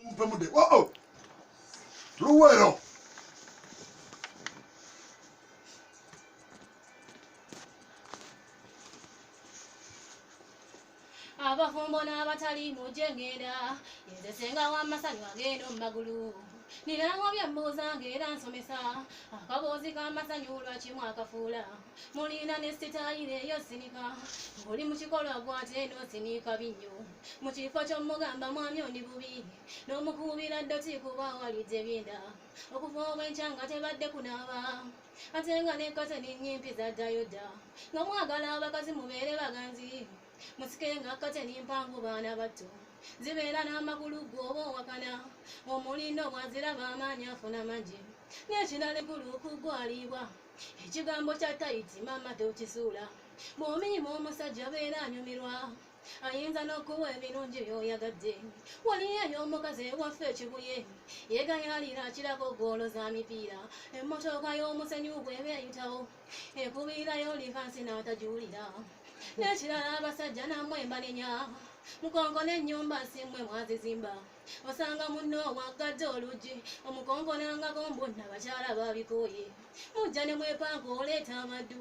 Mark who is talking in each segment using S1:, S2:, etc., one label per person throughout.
S1: mumpe mude oh, oh. luwero
S2: abafumbo n'abatali mujje ngenda yenze senga w'amasanyu agenda mu magulu nirango byembuuza ng'era nsomesa akaboozi k'amasanyu lwaki mwakafuula mulina ne sitayiro eyo sinika ng'oli mu kikolwa gwate eno sinika binnyo mu kifo ky'omugamba mwami ondi bubi n'omukuubira ddoti kuba awalidde byenda okuva obwenkya nga tebadde kunaaba ate nga nekkate nennyimpi zaddayo dda nga mwagala abakazi mubeere baganzi musike nga kkate nimpangu baana batto zibeera n'amagulu gwe oba owakana omulindo bwaziraba amaanyi afuna mangi n'ekirala egulu okugwaliibwa ekigambo kya tayiti maama tokisuula bw'omiima omusajja abeera anyumirwa ayinza n'okuwa ebirungi by'oyagadde waliyo eyo omukazi ewaffe ekibuye yegayalira akirako goolo za mipiira emmotoka y'omusenyu bweba eyitawo ekubiirayo livansi n'atagiwulira n'ekirala abasajja namwe mbanenya mukonko n'ennyumba simwe mwazizimba osanga munno owaggadde oluggi omukonkonangako mbunna bakyala babikooye mujja ne mwepanka oleeta amaddu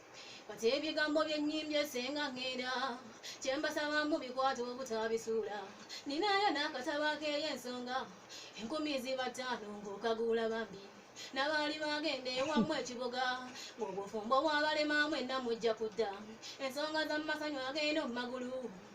S2: kati ebigambo byenyimbye senga ngenda kyembasaba mu bikwata obutabisuula ninayo n'akatabo akeeyo ensonga enkumi ziba ttaano ng'okaguula bambi nabaali bagenda ewamu ekibuga ng'obufumbo bwabalemamu enna mujja kudda ensonga z'amasanyu agenda mu magulu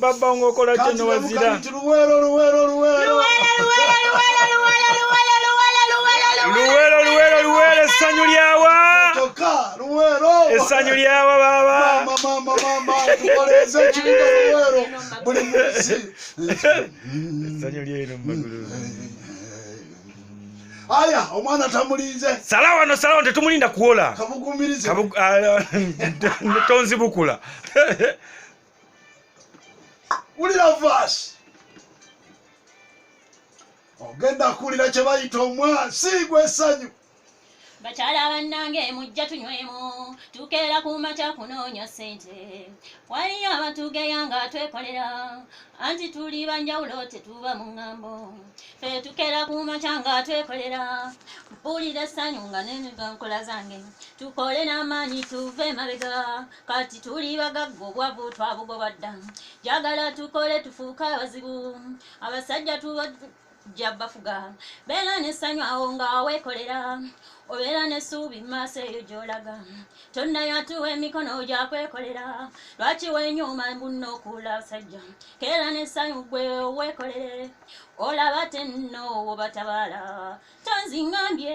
S2: baba nga
S3: okola kyo ne wazira luwero luwero luwero luwero luwero essanyu lyawa essanyu lyawa baba essanyu lyeno mumagulu
S1: aya omwana tamulinze sala wano sala wano
S3: tetumulinda kuwola
S1: kabugumirizetoonzibukula wulira vaasi ogenda kuwulira kye bayita omwasi gw'essanyu bakyala
S2: bannange mujja tunywemu tukeera ku makya kunoonya ssente waliyo abatugeya nga twekolera anti tuli banjawulo tetuba mu ŋŋambo fe tukeera ku makya nga twekolera mpulira essanyu nga neniga nkola zange tukole n'amaanyi tuve emabega kati tuli bagagga obwavu twabugoba dda jagala tukole tufuuke abazibu abasajja tubajja bafuga beera nesanyu awo nga wekolera obeera nesuubi maaso eyo gyolaga tonnayatuwa emikono gyakwekolera lwaki wenyuma mbunna okuula abasajja keera nesanyu gwe owekolere olaba tenno wobatabaala tonzingambye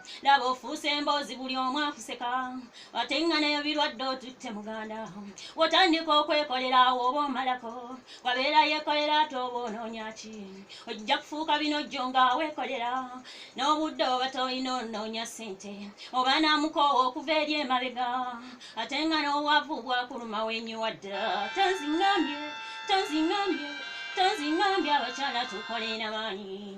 S2: laba ofuuse emboozi buli omu akuseka ate nga nayo birwadde otutte muganda wotandika okwekolera awo oba omalako wabeera yekolera ate oba onoonya ki ojja kufuuka bino jjo nga weekolera n'obudde oba tolina onoonya ssente oba naamukoowa okuva eri emabega ate nga n'owavu bwakuluma wenyiwa ddala tonzingambye tonzingambye tonzingambye abakyala tukolera maanyi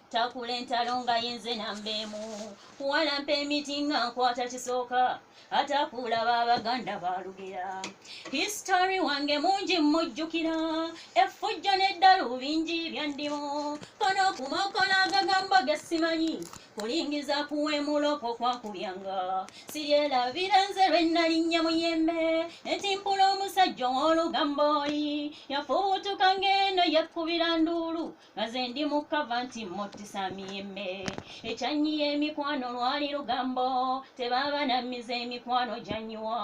S4: takula entalo nga yenze nambeemu kuwalampa emiti nga nkwata kisooka atakuula babaganda balugera histori wange mungi mmujjukira effujjo n'eddalu bingi byandimu kono kumakola agagamba gesimanyi kulingiza kuwemuloko kwakubyanga siryelabira nze lwe nnalinnya muyembe netimpula omusajja ow'olugambo oli yafubutuka ng'eno yakkubira nduulu nze ndi mu kava nti muttisa miyembe ekyanyi y'emikwano lwali lugambo tebaaba nammiza emikwano gyanyiwa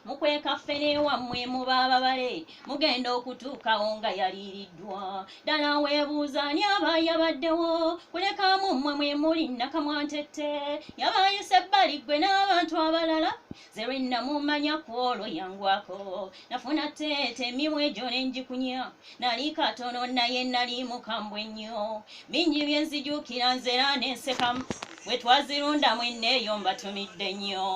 S4: mukwekaffe newammwe muba ababale mugenda okutuukawo nga yaliiriddwa ddala weebuuza ani aba yabaddewo kulekamu mmwe mwe muli nakamwantette yabayise ebbali ggwe n'abantu abalala Zerwe namumanya kwolwo yangwako nafuna teete emimwa egyo ne ngikunya nali katono naye nali mukambwe nnyo bingi bye nzijukira nzera ne nseka bwe twazirunda mwenne eyo mbatumidde nnyo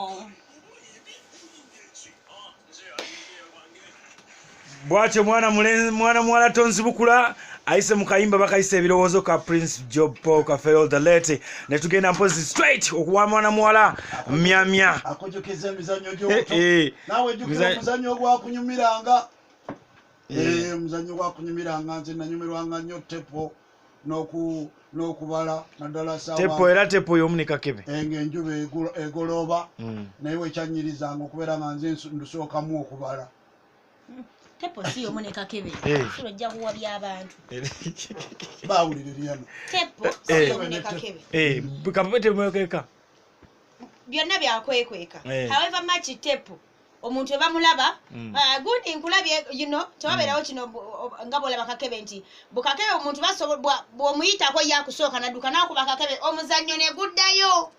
S3: bwatyo mwana mwana muwala tonzibukula ayise mu kayimba bakayise ebirowoozo ka prince job paul kafeol the late ne tugenda mpozi straight okuwa mwana muwala myamya akujukiza emizannyo
S1: gyobuto eh, eh. nawe jukira omuzannyo ogwakunyumiranga eh. omuzannyo gwakunyumiranga nze nanyumirwanga nnyo tepo n'okubala naddala tepo era tepo y'omu ne
S3: kakebe eh, ng'enjuba
S1: egolooba hmm. naye wekyanyirizanga okubeera nga nze ndusookamu okubala
S5: tepo si omu ne kakebe eh. fulo ojja kuwa by'abantu eh. bawulire byano
S1: tepo
S5: eh. si omu ne kakebe kakebe temwekweka byonna byakwekweka however much tepo omuntu ebamulaba mm. ah, gundi nkulabye yino tewabeerawo mm. kino nga bwolaba kakebe nti bukakebe omuntu bwomuyitako yakusooka nadduka nakuba kakebe omuzannyo neguddayo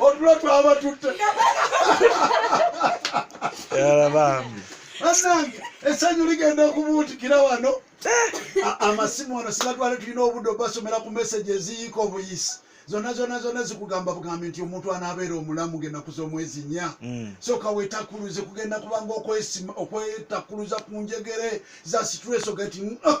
S1: otulo twaba tutte
S3: yala bambi banange
S1: esanyu ligenda okubuutikira wano amasimu wano sigatwale tulina obudde obasomera ku meseji eziyiika obuyisi zonna zonna zonna zikugamba bugambi nti omuntu anaabeera omulamu genda kuza omwezi nya mm. soka wetakuluze kugenda kubanga okwetakkuluza ku njegere za situreso gati ah,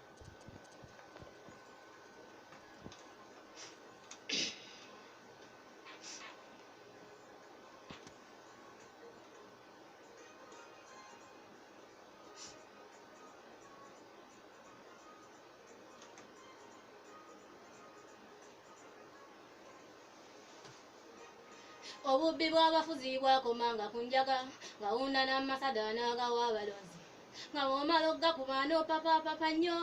S2: obubbi bw'abafuzi bwakomanga ku njaga ngawunda n'amasada n'agawa abalonzi nga bw'omala okugakuba n'opapapapa nnyo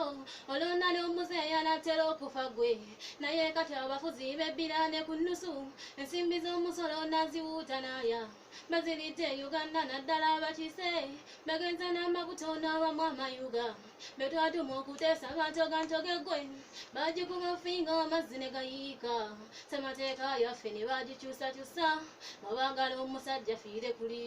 S2: olonda n'omuzeeyi anaatera okufa gwe naye kati abafuzi bebbira ne ku nnusu ensimbi z'omusolo naziwuuta naaya bazirite uganda naddala abakiise bagenza n'amakuta onaabamu amayuga be twatuma okuteesa bantogantoge gwe bagikuba finga amazzi ne gayiika ssemateeka yaffe ne bagikyusakyusa nga baagala omusajja fiire kuli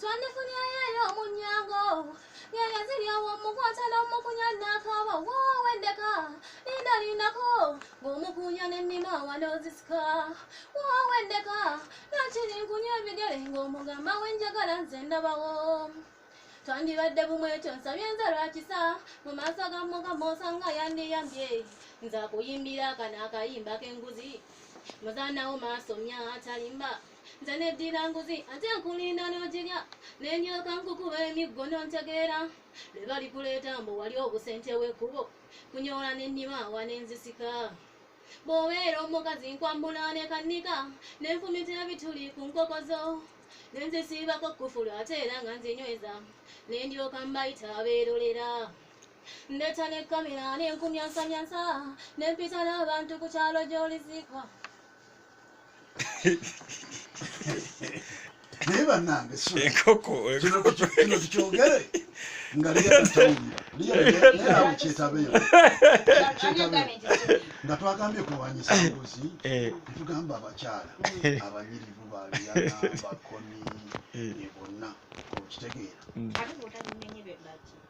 S2: twandifunyayeyo omunyango ngenge ziri awo omukwata n'omukunya naakaaba woowendeka linda lindako ng'omukunya n'ennima awanozisika woowendeka nakiri nkunya ebigere ng'omugamba wenjagala nze ndabawo twandibadde bumu ekyo nsabye nze lwakisa mu maaso ga mukama osanga yandiyambye nza kuyimbira akana akayimba k'enguzi muzanawo maaso mya atalimba nze neddira nguzi ate nkulinda n'ogirya ne ndyoka nkukuba emiggo n'ontegeera lwe balikuleeta mbu wali obusente w'ekkubo kunyoola ne nnima awa ne nzisika bw'obeera omukazi nkwambula ne kannika ne nfumita ebituli ku nkoko zo ne nzisiibako kkufulu ate era nga nzinyweza ne ndyoka mbayita abeerolera ndeeta ne kamera ne nkumyansamyansa ne mpita n'abantu ku kyalo gy'oliziikwa
S1: naye banange enkoko
S3: kino tukyogere
S1: nga lyeyetabeyo nga twagambye kulwanyisa mbuzi eh. tugamba abakyala eh. abanyirivu baliyana bakoni eh. bonna okitegeera mm.